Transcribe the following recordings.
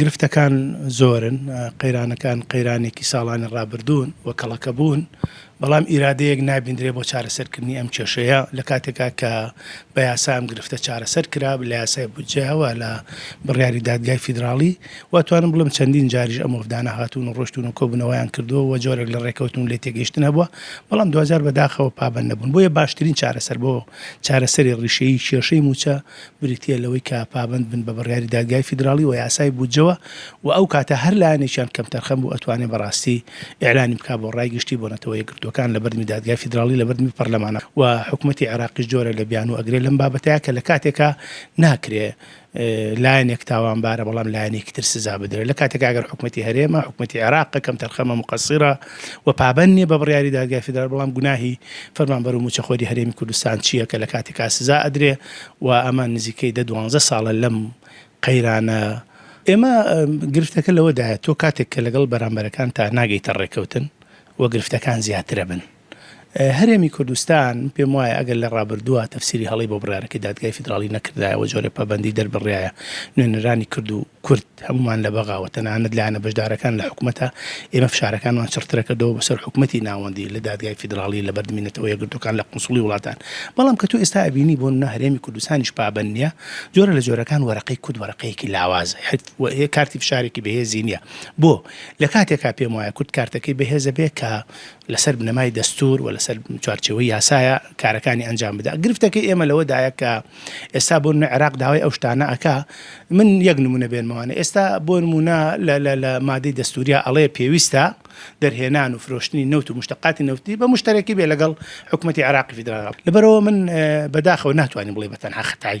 گرفتەکان زۆرن، قەیرانەکان قەیرانێکی ساڵانی ڕابردوون و کەڵەکەبوون، بەڵام ئیرادەیەک نابیندرێ بۆ چارەسەرکردنی ئەم کێشەیە، لە کاتێکا کە بە یاسا ئەم گرفتە چارەسەر کرا، لە یاسای بودجەیە و لە بڕیاری دادگای فیدراڵی، واتوانم بڵێم چەندین جاریش ئەم وەفدانە هاتوون و ڕۆشتوون و کۆبوونەوەیان کردووە و جۆرێک لە ڕێکەوتن و لێتێگەیشتن هەبووە، بەڵام دواجار بەداخەوە پابەند نەبوون، بۆیە باشترین چارەسەر بۆ چارەسەری ڕیشەیی کێشەی مووچە، بریتییە لەوەی کە پابەند بن بە بڕیاری دادگای فیدراڵی و یاسای بودجەوە و ئەو کاتە هەر لایەنێکیان کەمتەرخەم بوو ئەتوانێ بە ڕاستی ئیعلانی بکا بۆ ڕای گشتی بۆ نەتەوە یەکگرتووەکان لە بەردمی دادگای فیدراڵی لە بەردمی پەرلەمانە و حکومەتی عێراقیش جۆرە لە بیانوو ئەگرێ لەم بابەتە کە لە کاتێکا ناکرێ لایەنێک تاوانبارە بەڵام لایەنێکی تر سزا بدرێ لە کاتێکا گەر حکومەتی هەرێمە حکومەتی عێراقە کەمتەرخەمە موقەسیرە و پابەند نیە بە بڕیاری دادگای فیدرال بەڵام گوناهی فەرمانبەر و موچەخۆری هەرێمی کوردستان چیە کە لە کاتێکا سزا ئەدرێ و ئەمە نزیکەی دە دوانزە ساڵە لەم قەیرانە ئێمە گرفتەکە لەوەدایە تۆ کاتێک کە لەگەڵ بەرامبەرەکانتا ناگەیتە ڕێکەوتن و گرفتەکان زیاتر ئەبن هەرێمی کوردستان پێم وایە ئەگەر لە ڕابردووە تەفسیری هەڵی بۆ بڕارەکەی دادگای فیدراڵی نەکردایەوە جۆرە پابەندی دەربڕایە نوێنەرانی کرد و کورد هەموومان لە بەغاوە تەنانەت لایەنە بەشدارەکان لە حکومەتە، ئێمە فشارەکانمان چڕترە کردەوە بەسەر حکومەتی ناوەندی لە دادگای فیدراڵی لە بەردمی نەتەوە یەکگرتووەکان لە قونسڵی وڵاتان بەڵام کە تۆ ئێستا ئەبینی بۆ نمونە هەرێمی کوردستانیش پابەند نیە جۆرە لە جۆرەکان وەرەقەی کورد وەرەقەیەکی لاوازە هەر کارتی فشارێکی بەهێزی نیە بۆ لە کاتێکا پێم وایە کورد کارتەکەی بەهێزە بێ کە لەسەر بنەمای دەستوور و لەسەر چوارچێوەی یاسایە کارەکانی ئەنجام بدا گرفتەکەی ئێمە لەوەدایە کە ئێستا بۆ نمە عێراق داوای ئەو شتانە ئەکا من یەک نمونە بێنمەوانە ئێستا بۆ نمونە لە مادەی دەستوریا ئەڵەیە پێویستە دەرهێنان و فرۆشتنی نەوت و مشتقاتی نەوتی بە مشتەرەکی بێ لەگەڵ حکوومەتتی عراقی فیدرال لەبەرەوە من بەداخەوە ناتوانانی بڵێ بەتەنها خەتای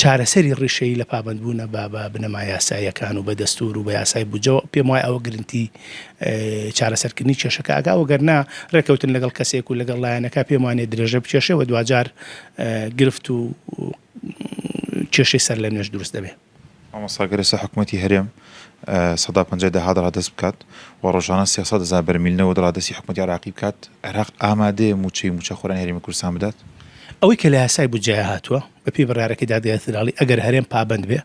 چارەسەری ڕیشەیی لە پابەندبوونە بە بە بنەما یاساییەکان و بە دەستوور و بە یاسای بودجەوە، پێم وایە ئەوە گرنتی چارەسەرکردنی کێشەکە ئەکا، وەگەر نا ڕێککەوتن لەگەڵ کەسێک و لەگەڵ لایەنەکە پێم وانیە درێژە بکێشێ و دواجار گرفت و کێشەی سەرلەنوێش دروست دەبێ. مامۆستا گەر ئێستا حکومەتی هەرێم سەدا پەنجای داهات ڕادەست بکات و ڕۆژانە سێ سەد هەزار بەرمیل نەوت ڕادەستی حکومەتی عێراقی بکات، عێراق ئامادەیە مووچەی مووچەخۆرانی هەرێمی کوردستان بدات؟ ئەوەی کە لە یاسای بودجەیا هاتووە، بەپێی بڕیارەکەی دادگای فیدراڵی، ئەگەر هەرێم پابەند بێ،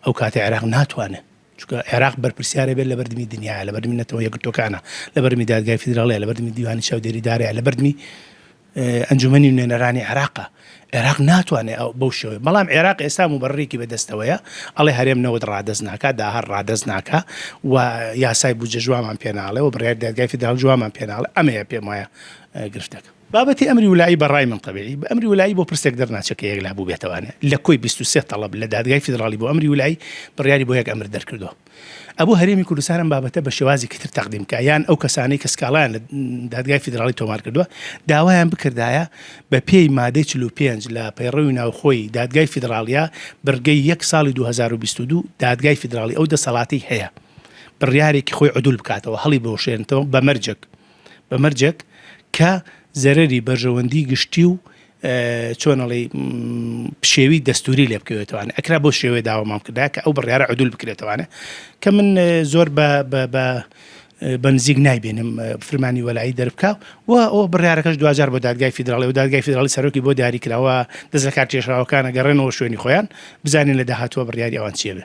ئەو کاتە عێراق ناتوانێ، چونکە عێراق بەرپرسیارە بێ لەبەردمی دنیایە، لەبەردمی نەتەوە یەکگرتووەکانە، لەبەردمی دادگای فیدراڵییە، لەبەردمی دیوانی چاودێریدارەیە، لەبەردمی. ئەنجومەنی نوێنەرانی عێراقە، عێراق ناتوانێ بەو شێوەیە، بەڵام عێراق ئێستا موبەرەرێکی بە دەستەوەیە، ئەڵێ هەرێم نەوت ڕادەست ناکا، داهات ڕادەست ناکا و یاسای بودجە جوابمان پێ ناڵێ و بڕیاری دادگای فیدراڵ جوابمان پێ ناڵێ، ئەمەیە پێم وایە گرفتەکە. بابەتی ئەمری ولایی بە ڕای من تەبیعی، بە ئەمری ولایی بۆ پرسێک دەرناچێ کە یەکلا بووبێتەوانێ، لە کۆی بیست و سێ تەڵەب لە دادگای فیدراڵی بۆ ئەمری ولایی، بڕیاری بۆ یەک ئەمر دەرکردووە. ئەبوو هەرێمی کوردستان ئەم بابەتە بە شێوازێکی تر تەقدیم بکات یان ئەو کەسانەی کە سکاڵایان لە دادگای فیدراڵی تۆمار کردووە داوایان بکردایە بە پێی مادەی 45 لە پەیڕەوی ناوخۆی دادگای فیدراڵیا بڕگەی یەک ساڵی 2022 دادگای فیدراڵی ئەو دەسەڵاتی هەیە بڕیارێکی خۆی عدول بکاتەوە هەڵی بۆشێنتەوە بە مەرجێک بە مەرجێک کە زەرری بەرژەوەندی گشتی و چۆن ئەڵێی پشێوی دەستوری لێ بکەوێتوانە ئەکرا بۆ شێوێ داوامان کردا کە ئەو بڕیارە عدول بکرێتوانە کە من زۆر بە بەنزیک نایبێنم فرمانی وەلایی دەربکە و ئەو بڕارەکەش دوجار بۆ دادگای فیدراڵی و دادگای فیدراڵی سەرۆکی بۆ دیاریکراوە دەست لە کار کێشراوەکانە گەڕێنەوە شوێنی خۆیان بزانین لە داهاتوە بڕیاری ئەوان چێبێ